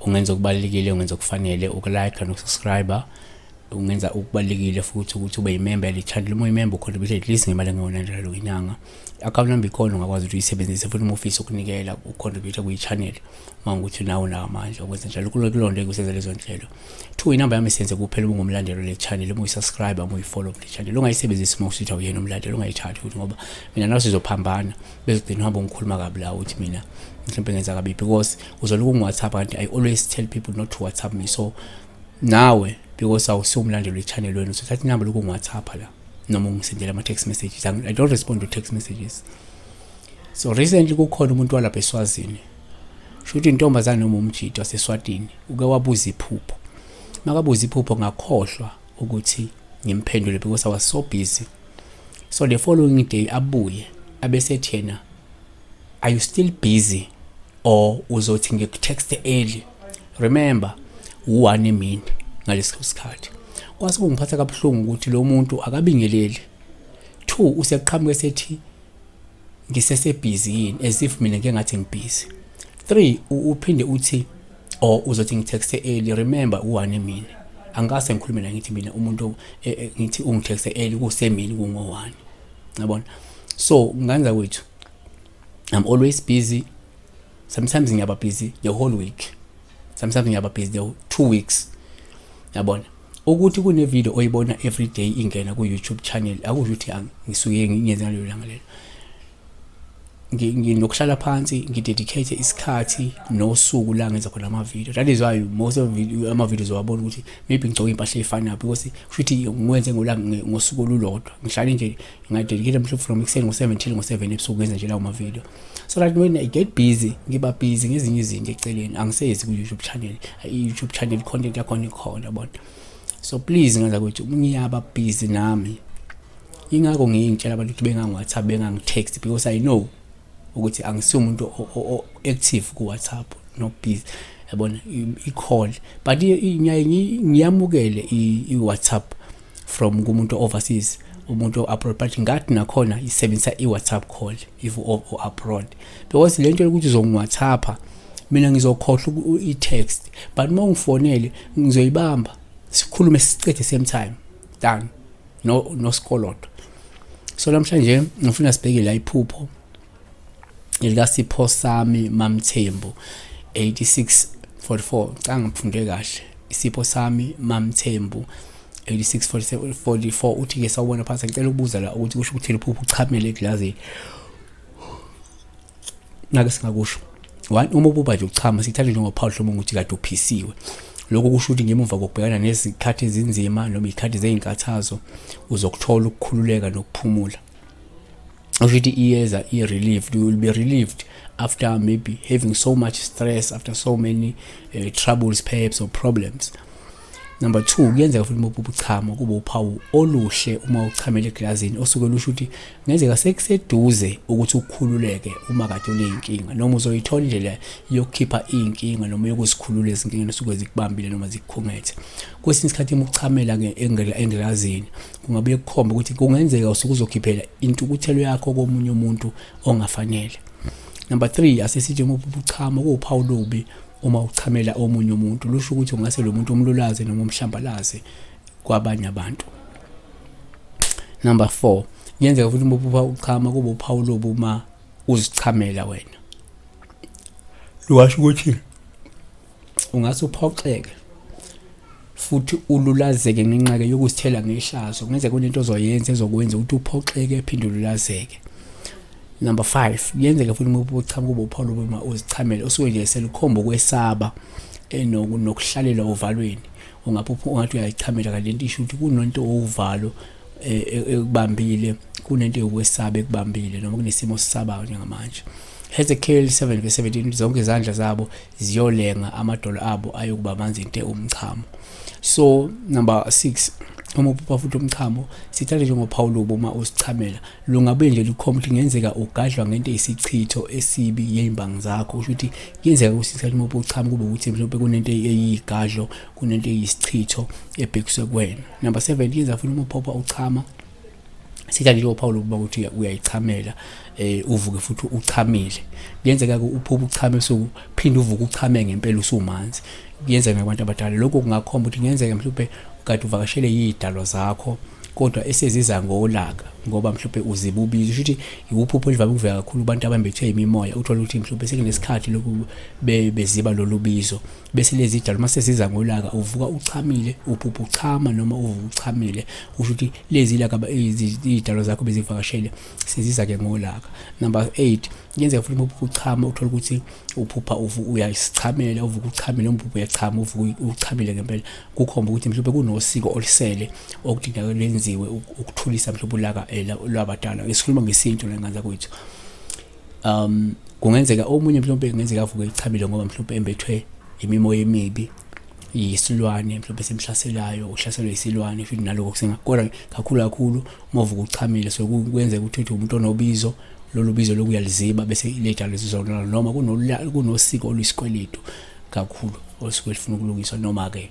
ungenza okubalulekile ungenza okufanele ukulike nokusubscribe ungenza okubalulekile futhi ukuthi ube yimemba yalithandi uma uyimemba ukhona ukuthi at least ngemali engewona njalo ngenyanga i-account number ikhona ungakwazi ukuthi uyisebenzise futhi uma ufisa ukunikela ucontribute kwiyi-channel uma ukuthi nawo nawo amandla ukwenza njalo kulonto ekuseza lezo nhlelo Two inamba yami senze kuphela uma ungumlandeli wale channel uma uyisubscribe uma uyifollow kule channel ungayisebenzisi uma usuthi awuyena umlandeli ungayithathi ukuthi ngoba mina nawe sizophambana bezigcina uhamba ungikhuluma kabi la ukuthi mina mhlawumbe ngenza kabi because uzoloku ungu-whatsapp kanti i always tell people not to whatsapp me so nawe because awusiwumlandeli wechannel wenu so thatha inamba loku ngiwathapha la noma ungisendela ama-text messages i don't respond to text messages so recently kukhona umuntu walapha eswazini shuthi intombazane noma umjidi waseswatini uke wabuza iphupho makabuza iphupho ngakhohlwa ukuthi ngimphendule because i was so busy so the following day abuye abesethi yena are you still busy or uzothi ngikutext early remember u-one emini ngaleso sikhathi kwase kungiphatha kabuhlungu ukuthi lo muntu akabingeleli two useqhamuke sethi ngisesebhizi yini as if mina ngike ngathi ngibhizi three uphinde uthi or uzothi ngitexte early remember uwane mina angikase ngikhulume la ngithi mina umuntu e, e, ngithi ungitexte early kusemini kungowani ngabona so nganza kwethu i'm always busy sometimes ngiyaba busy the whole week sometimes ngiyaba busy the two weeks yabona ukuthi kune video oyibona every day ingena ku YouTube channel akusho ukuthi ngisuke ngiyenze ngalelo langa lelo nginokuhlala phansi ngidedicate isikhathi nosuku la ngenza khona ama video that is why most of ama videos wabona ukuthi maybe ngigcoka impahla efanayo because futhi ngikwenze ngola ngosuku olulodwa ngihlale nje ngadedicate mhlawumbe from ekuseni ngo7 till ngo7 ebusuku ngenza nje lawo ma video so that when i get busy ngiba busy ngezinye izinto eceleni angisezi ku-youtube channel i-youtube channel content yakhona ikhona yabona so please ngaza kwethu ngiyaba busy nami ingakho ngiyintshela abantu ukuthi bengangi-whatsapp bengangi-text because i know ukuthi angisiyo umuntu o-active ku-whatsapp no busy yabona i-call but ngiyamukele i-whatsapp from kumuntu overseas umuntu o-abroad but ngathi nakhona isebenzisa i-whatsapp call if u-abroad because le nto yokuthi uzongiwhatsappa mina ngizokhohlwa i-text but uma ungifonele ngizoyibamba sikhulume sicede same time done no nosikolodo so namhlanje ngifuna sibheke la iphupho elikasipho sami mamthembu 86 44 ngicanga ngiphunde kahle isipho sami mamthembu 8644 uthi ke sawubona phansi ngicela ukubuza la ukuthi kusho ukuthi liphupho uchamele egilazini ngake singakusho one uma ububa nje uchama sithathe njengophawulo lomuntu ukuthi kade uphisiwe lokho kusho ukuthi ngemuva kokubhekana nezikhathi ezinzima noma izikhathi zezinkathazo uzokuthola ukukhululeka nokuphumula usho ukuthi iyeza i-relieved you will be relieved after maybe having so much stress after so many uh, troubles perhaps or problems number two kuyenzeka futhi uma uphupha uchama kube uphawu oluhle uma uchamela egilazini osuke lusho ukuthi kungenzeka sekuseduze ukuthi ukhululeke uma kade uney'nkinga noma uzoyithola indlela yokukhipha iy'nkinga noma yokuzikhulula ezinkingeni osuke zikubambile noma zikukhungethe kwesinye isikhathi uma uchamela engilazini kungabuye kukhombe ukuthi kungenzeka usuke uzokhiphela intukuthelo yakho komunye umuntu ongafanele number 3 asesithi uma ubuchama kuwuphawu lobi uma uchamela omunye umuntu lusho ukuthi ungase lo muntu umlulaze noma umhlambalaze kwabanye abantu number 4 kuyenzeka futhi uma uphupha uchama kube uphawu lobu uma uzichamela wena lwasho ukuthi ungase uphoxeke futhi ululazeke ngenxake yokusithela ngehlazo kungenzeka kunento ozoyenza ezokwenza ukuthi uphoxeke phinde ululazeke number 5 kuyenzeka futhi uma ubuchama kuba upholo uma uzichamele osuke nje selukhomba ukwesaba enoku eh, nokuhlalela ovalweni ungaphupha ungathi uyayichamela kanti lento isho ukuthi kunonto owuvalo eh, eh, ekubambile kunento yokwesaba ekubambile noma kunesimo sisabayo njengamanje Hezekiel 7:17 zonke izandla zabo ziyolenga amadolo abo ayokuba manzi nte umchamo so number 6 uma uphupha futhi umchamo sithathe njengophawu lobo uma usichamela lungabe nje lukhomba ukuthi kungenzeka ugadlwa ngento eyisichitho esibi yey'mbangi zakho kusho ukuthi kuyenzeka ukuthi isikhathi uma ubuchama kube ukuthi mhlawumbe kunento eyiyigadlo kunento eyisichitho ebhekiswe kuwena number seven yenza futhi uma uphupha uchama sithathe njengo Paul ukuba ukuthi uyayichamela eh uvuke futhi uchamile kuyenzeka uphupha uchame so phinde uvuke uchame ngempela usumanzi kuyenzeka abantu abadala lokho kungakhomba ukuthi kuyenzeka mhlawumbe ukade uvakashele yidalo zakho kodwa eseziza ngolaka ngoba mhlawumbe uzibubile usho ukuthi iwuphupho olivame ukuvela kakhulu abantu abambethwe imimoya uthola ukuthi mhlawumbe sekunesikhathi lokhu beziba lolubizo bese lezi tshalo uma sesiza ngolaka uvuka uchamile uphupha uchama noma uvuka uchamile usho ukuthi lezi laka izitshalo zakho bezivakashele seziza ke ngolaka number 8 kuyenzeka futhi uma uchama uthola ukuthi uphupha uyasichamela uvuka uchamile umphupha uyachama uvuka uchamile ngempela kukhomba ukuthi mhlawumbe kunosiko olisele okudingeka lenziwe ukuthulisa mhlawumbe ulaka eh, lwabadala esikhuluma ngesintu la ngane zakwethu um kungenzeka omunye mhlawumbe kungenzeka avuke elichabile ngoba mhlawumbe embethwe imimoya emibi yisilwane mhlawumbe simhlaselayo uhlaselwe yisilwane futhi naloko kusengakodwa kakhulu kakhulu uma uvuka uchamile so kwenzeka ukuthi uthi umuntu onobizo lolu bizo lokuyaliziba bese lejalo lizizonala noma kunosiko oluyisikweletu kakhulu osuke lifuna ukulungiswa noma-ke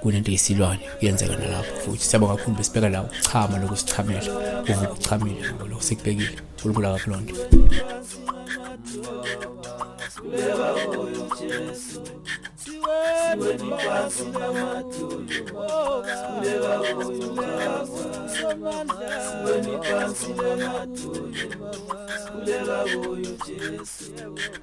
kunento eyisilwane kuyenzeka nalapho futhi siyabonga kakhulu besibheka la ukuchama lokusichamela kuvuka uchamile ngoba lokho sikubhekile unkulunkulu akakuloo nto Kuleka kuyo Jesu